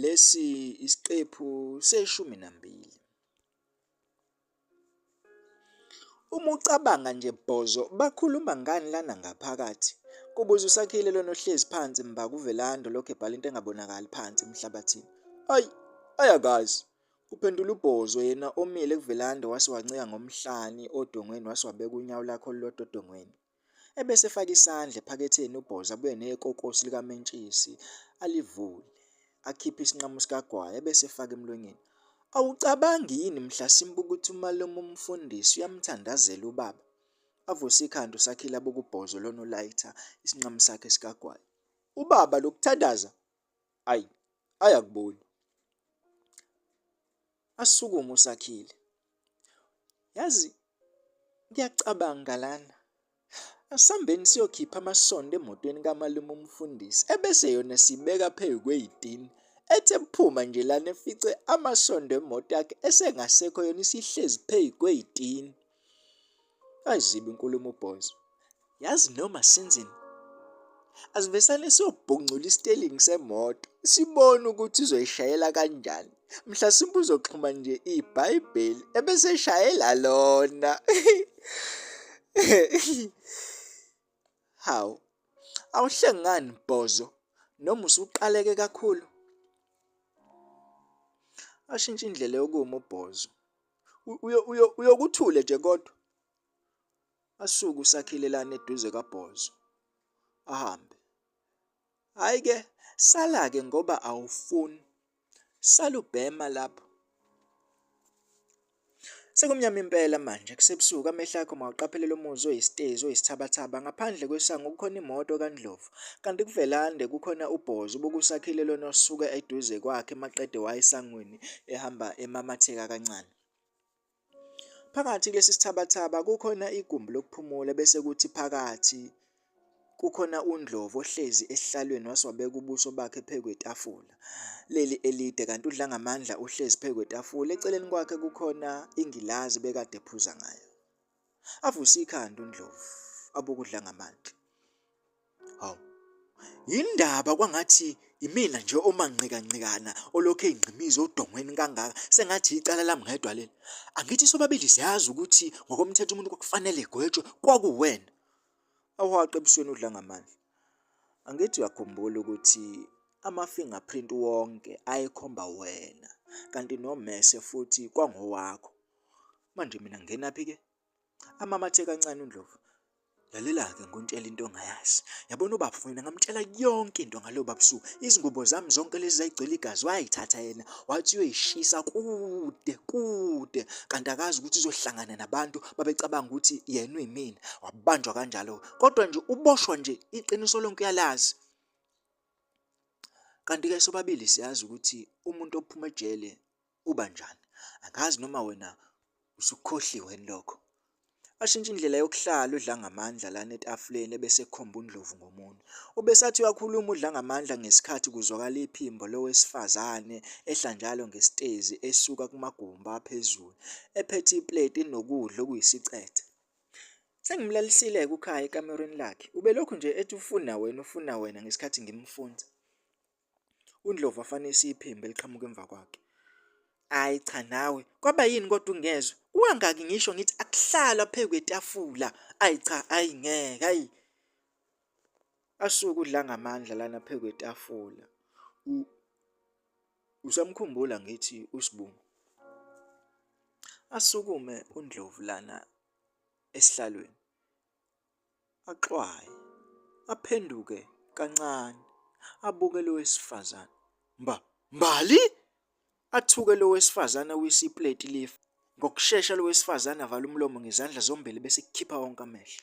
Lesi isiqephu seshumi nambili. Uma ucabanga nje bhozo bakhuluma ngani lana ngaphakathi? Kubuza uSakhile lona ohlezi phansi mba kuVelando lokho ebhala into engabonakali phansi emhlabathini. Ayi, ayakazi. Kuphendula ubhozo yena omile kuVelando wase wancika ngomhlani odongweni wase wabeka unyawo lakhe olulodwa odongweni. Ebese efaka isandla ephaketheni uBhoza abuye nekokosi likamentshisi alivule, akhiphe isinqamu sikagwayi ebese efaka emlonyeni. Awucabangi yini mhla simbuka ukuthi umalume umfundisi uyamthandazela ubaba? Avuse ikhanda uSakhile abuke uBhozo lona ulayitha isinqamu sakhe sikagwayi. Ubaba lokuthandaza ayi ayakubona asukume usakhile yazi ngiyacabanga lana asambeni siyokhipha amasondo emotweni kamalume umfundisi ebese yona sibeka phezu kweyitini ethe phuma nje lana efice amasondo emoto yakhe esengasekho yona isihlezi phezu kweyitini Ayizibi inkulumo boys. Yazi noma senzeni asivesane sobhungcula isitelingi semoto sibone ukuthi uzoyishayela kanjani mhlasimbe uzoxhuma nje ibhayibheli ebese eshayela lona hawu awuhlengani bhozo noma usuqaleke kakhulu ashintshe indlela yokuma ubhozo uyokuthule nje kodwa asuke usakhilelana eduze kabhozo ahambe hayi ke sala-ke ngoba awufuni salubhema lapho Sekumnyama impela manje kusebusuku amehlo akho mawuqaphelela umuzi oyisitezi oyisithabathaba ngaphandle kwesango kukhona imoto kaNdlovu Kanti kuvelande kukhona ubhozi ubukusakhile lona osuke eduze kwakhe maqede wayesangweni ehamba emamatheka kancane. Phakathi kulesi sithabathaba kukhona igumbi lokuphumula bese kuthi phakathi kukhona uNdlovu ohlezi esihlalweni wase wabeka ubuso bakhe phezu kwetafula leli elide kanti udla ngamandla uhlezi phezu kwetafula eceleni kwakhe kukhona ingilazi bekade ephuza ngayo. Avuse ikhanda uNdlovu abokudla ngamandla. Hawu. Yindaba kwangathi imina nje omanqikanqikana olokhu eyingqimiza odongweni kangaka sengathi icala lami ngedwa leli. Angithi sobabili siyazi ukuthi ngokomthetho umuntu kwakufanele egwetshwe kwakuwena. Awuhaqe ebusweni udla ngamandla. Angithi uyakhumbula ukuthi ama-fingerprint wonke ayekhomba wena kanti nomese futhi kwangowakho Manje mina ngingenaphi ke? Amamathe kancane uNdlovu. Lalela-ke ngontshela into ongayazi. Yabona ubaba mina ngamtshela yonke into ngalo babusu. Izingubo zami zonke lezi zayigcwele igazi wayithatha yena wathi uyoyishisa kude kude kanti akazi ukuthi uzohlangana nabantu babecabanga ukuthi yena uyimina. Wabanjwa kanjalo. Kodwa nje uboshwa nje iqiniso lonke uyalazi. Kanti ke sobabili siyazi ukuthi umuntu ophuma ejele ubanjani angazi noma wena usukhohliwe lokho ashintshe indlela yokuhlala udla ngamandla lana etafuleni ebese ekhomba uNdlovu ngomunwe. Ubesathi uyakhuluma udla ngamandla ngesikhathi kuzwakala iphimbo lowesifazane ehla njalo ngesitezi esuka kumagumba aphezulu ephethe ipleti enokudla okuyisicethe. Sengimlalisile-ke uKhaya ekamerweni lakhe. Ubelokhu nje ethi ufuna wena, ufuna wena ngesikhathi ngimfunza. UNdlovu afane isiphimbo eliqhamuka emva kwakhe. Hayi cha nawe kwaba yini kodwa ungezwe uwangaki ngisho ngithi akuhlalwa phezu kwetafula ayi cha ayi ngeke ayi asuke udla ngamandla lana phezu kwetafula usamkhumbula ngithi usibungu asukume undlovu lana esihlalweni axwaye aphenduke kancane abuke lo wesifazane mba mbali athuke lo wesifazane uyisiplate lifa ngokushesha lo wesifazane avala umlomo ngezandla zombili bese kukhipha wonke amehlo